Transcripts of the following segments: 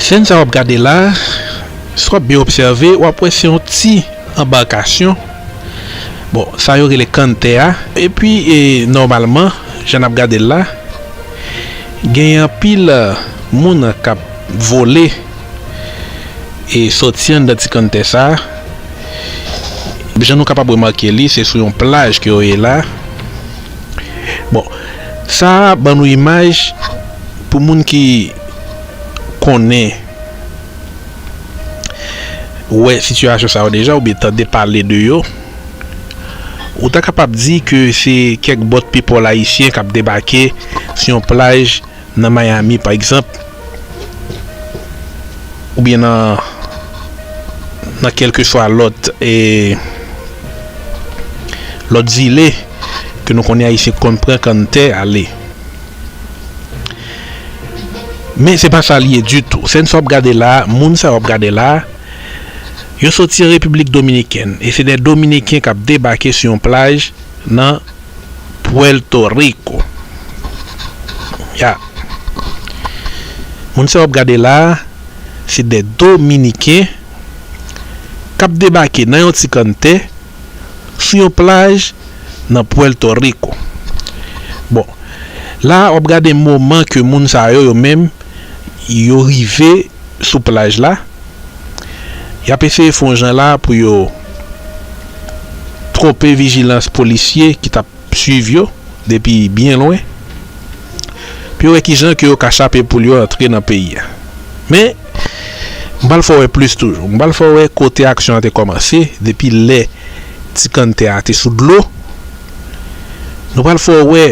Sèn sa wap gade la, si wap byen obsève wap wè se yon ti anbarkasyon, bon sa yo rele kanntè a, epi nòmalman jan nap gade l la genyen anpil moun kap vole. e sòti anndan ti kann tè sa jan nou kapab remake li se sou yon plaj ke yo ye la bon sa ban nou imaj pou moun ki konnen wè sitiyasyon sa yo deja oubyen tande pale de yo ou ta kapab di ke se kèk bòt pipòl ayisyen kap debake sou yon plaj Nan Miami pa egzanp, oubyen nan nan kèlkeswa lòt e lòt zile ke nou konnen Ayisyen konn pran kann tè ale. Men se pa sa li ye ditou. Sèn sa wap gade la a, moun sa wap gade la a, yo soti an Repiblik Dominikèn e se dè Dominiken kap debake sou yon plaj nan Puerto Rico ya moun sa wap gade la se de dominiken kap debake nan yon ti kann tè sou yon plaj nan Puerto Rico bon la wap gade moman ke moun sa yo yo menm yo rive sou plaj la yap eseye fon jan la pou yo tronpe vijilans polisye ki tap swiv yo depi byen lwen pou yo wè kijan ke yo ka chape poul yo antre nan peyi a men m pral fè w wè plis toujou m pral fè w wè kote aksyon an te kòmanse depi lè ti kanntè a te sou dlo nou pral fè w wè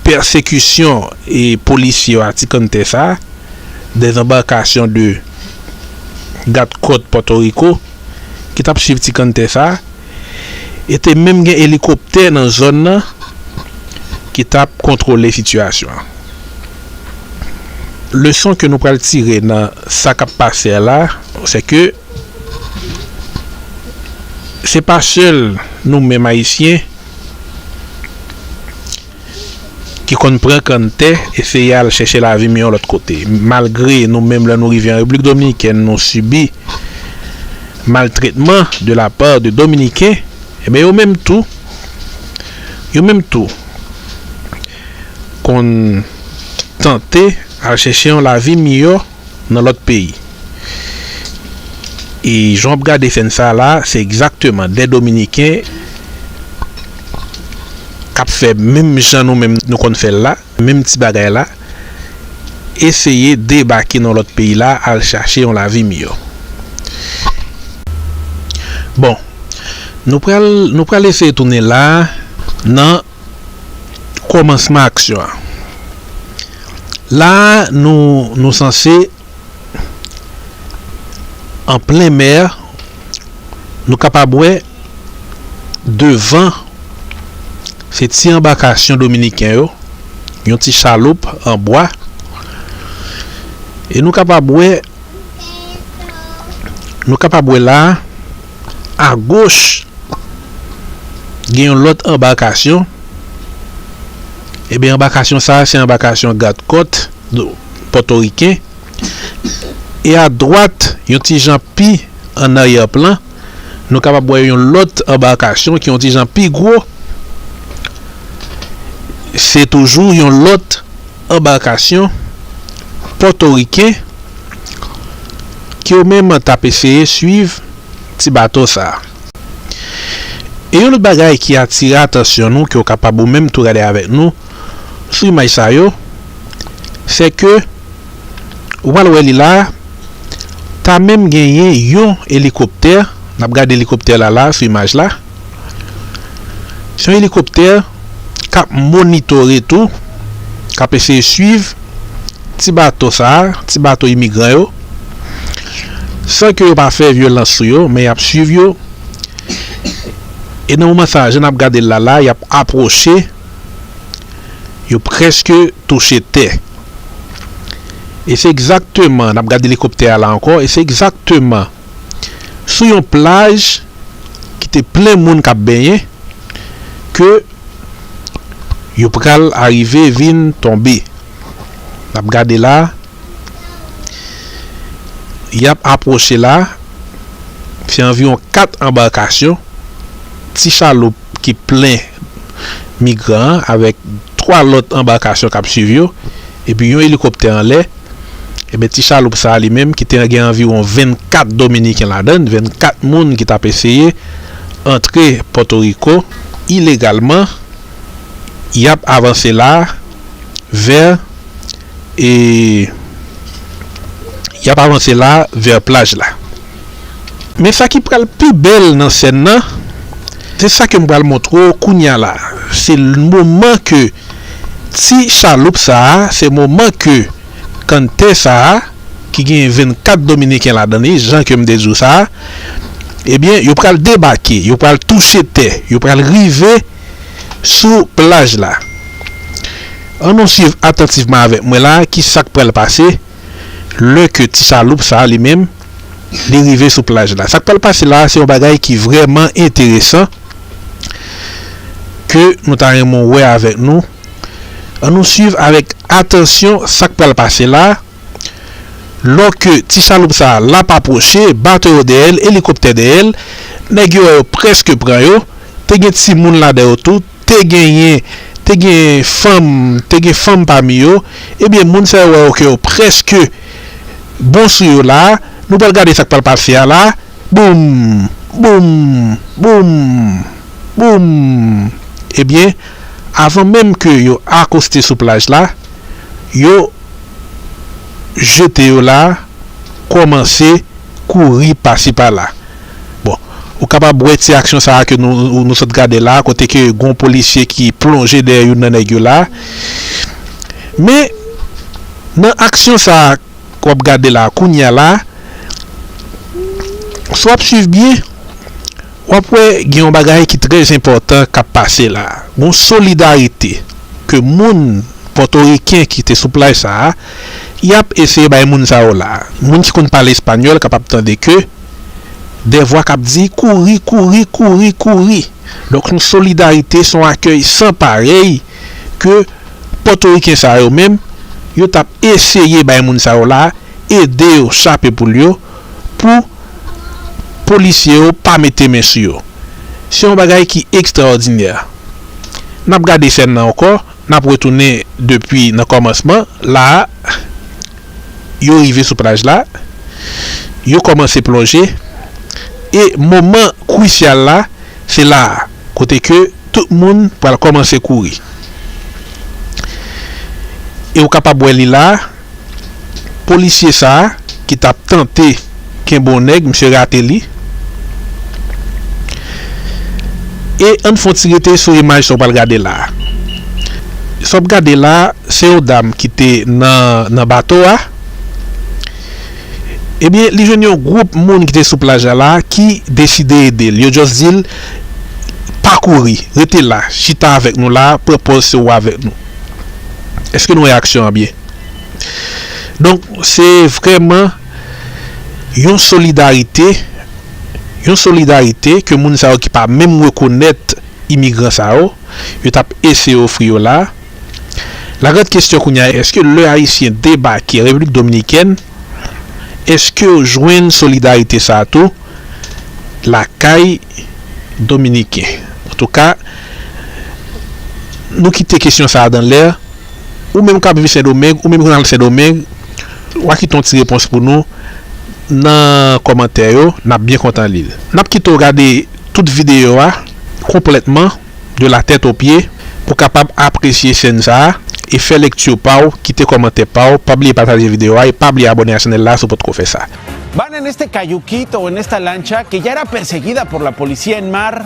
pèsekisyon polisye yo a ti kanntè sa. dezanbarkasyon 2 gad kòt Pòtoriko ki t ap swiv ti kanntè sa a e te menm gen elikoptè nan zòn nan ki t ap kontwole sitiyasyon an. Leson ke nou pral tire nan sa k ap pase a la se ke se pa sèl nou menm Ayisyen ki konn pran kanntè eseye al chèche lavi miyò lòt kote. Malgre nou menm lè nou rive an Repiblik Dominikèn nou sibi maltretman de la part de Dominiken, enben yo menm tou, yo menm tou konn tante al chèche yon lavi miyò. nan lòt peyi e jan wap gade sèn sa la se egzakteman 2 dominiken kap fè menm jan nou menm nou konn fèl la menm ti bagay la eseye debake nan lòt peyi la al chache yon lavi miyò bon nou pral nou pral eseye tounen la nan. Kòmansman aksyon an. La a nou nou sanse an plen mè, nou kapab wè devan se ti anbakasyon dominiken yo, yon ti chaloup an bwa e nou kapab wè. Nou kapab wè la a, agoch, gen yon lòt anbakasyon. Enben, anbakasyon sa a se anbakasyon gadkòt pòtoriken. E adwat, yon ti jan pi ann aryèplan, nou kapab wè yon lòt anbakasyon ki yon ti jan pi gwo. Se toujou yon lòt. anbarkasyon pòtoriken ki yo menm t ap eseye swiv ti bato sa a. E yon lòt bagay ki atire atansyon nou ke w kapab ou menm tou gade avèk nou sou imaj sa yo, se ke ou pral wè li la a, ta menm genyen yon elikoptè, n ap gade elikoptè la la a sou imaj la, Se yon elikoptè k ap monitore tou, k ap eseye swiv ti bato sa, ti bato imigran yo, san ke yo pa fè vyolans sou yo, men y ap swiv yo. E nan moman sa, jan n ap gade l la la, y ap apwoche, yo prèske touche tè. E se egzakteman, n ap gade elikoptè a la ankò, e se egzakteman. sou yon plaj ki te plen moun kap benyen ke yo pral arive vin tonbe nap gade la yap apwoche la se anviwon 4 anbarkasyon ti chaloup ki plen migran avèk 3 lòt anbarkasyon kap swiv yo epi yon elikoptè anlè. Enben ti chaloup sa a li menm ki te gen anviwon 24 dominiken ladan l, 24 moun ki t ap eseye antre Pòtoriko ilegalman, y ap avanse la a vè e y ap avanse la a vè plaj la. Men sa ki pral pi bèl nan sèn nan, se sa ke m pral montre w kounya la a, se moman ke. Ti chaloup sa a se moman ke Cante sa a ki genyen 24 dominiken ladan li jan ke m te di w sa a ebyen yo pral debake yo pral touche tè yo pral rive sou plaj la an nou swiv atantivman avèk mwen la ki sa k pral pase lè ke ti chaloup sa a li menm li rive sou plaj la. Sa k pral pase la a se yon bagay ki vrèman enteresan ke nou ta renmen w wè avèk nou. An nou swiv avèk atansyon sa k pral pase la a. Lò ke ti chaloup sa a l ap apwoche, bato yo dèyè l, elikoptè dèyè l, nèg yo wè yo prèske pran yo. Te gen timoun ladan yo tou. Te genyen, te gen fanm, te gen fanm pami yo, ebyen moun sa yo wè yo ke yo prèske bon sou yo la a, nou pral gade sa k pral pase a la a, boum! boum! boum! boum! ebyen avan menm ke yo akoste sou plaj la, yo jete yo la a kòmanse kouri pasi pala. Bon, ou kapab wè ti aksyon sa a ke nou sot gade la a, kote ke gon polisye ki plonje dèyè youn nan nèg yo la a. Men, nan aksyon sa a ke wap gade la a, kounye a la a, si wap swiv byen, wap wè gen yon bagay ki trè enpòtan kap pase la a. Gon solidarite ke moun pòtoriken ki te sou plaj sa a, yap eseye bay moun sa yo la a. Moun ki konn pale espanyòl kapab tande ke. Dè vwa k ap di, Kouri, kouri, kouri, kouri! Donk yon solidarite, s on akèy san parèy ke Pòtoriken sa yo menm, yo t ap eseye bay moun sa yo la, ede yo chape poul yo, pou polisye yo pa mete men sou yo. Se yon bagay ki ekstraòdinè. N ap gade sèn nan ankò, n ap retounen depi nan kòmansman la a. yo rive sou plaj la, yo kòmanse plonje, e moman kwisyal la, se la a, kote ke tout moun pral kòmanse kouri. E ou kapab wè li la a, polisye sa a ki t ap tante. Ken bon nèg misye rate li. E ann fon ti rete sou imaj sa w pral gade la a. Sa w ap gade la a se yon dam ki te nan nan bato a. Ebyen li jwenn yon gwoup moun ki te sou plaj la la ki deside ede l. Yo just di l pa kouri rete la chita avèk nou la pran pòz se ou avèk nou. Eske nou wè aksyon an byen? Donk se vrèman. Yon solidarite, yon solidarite ke moun sa yo ki pa menm rekonèt imigran sa yo, yo t ap eseye ofri yo la. La grande question kounye a, èske lè Ayisyen debake Repiblik Dominikèn, èske yo jwenn solidarite sa a tou lakay Dominiken? Antouka, nou kite kesyon sa a dan lè. Ou menm kap viv sendomeng ou menm ki nan sendomeng wa kite yon ti repons pou nou nan kòmantè yo nap byen kontan lil nap kite w gade tout videyo a konplètman de la tèt o pye pou kapab apresye chèn sa e fè lekti w pa w kite kòmantè pa w pa bliye pataje videyo a e pa bliye abòne a chanèl la si w potko fè sa. Van en este cayuquito, en esta lancha que ya era perseguida por la policía en mar,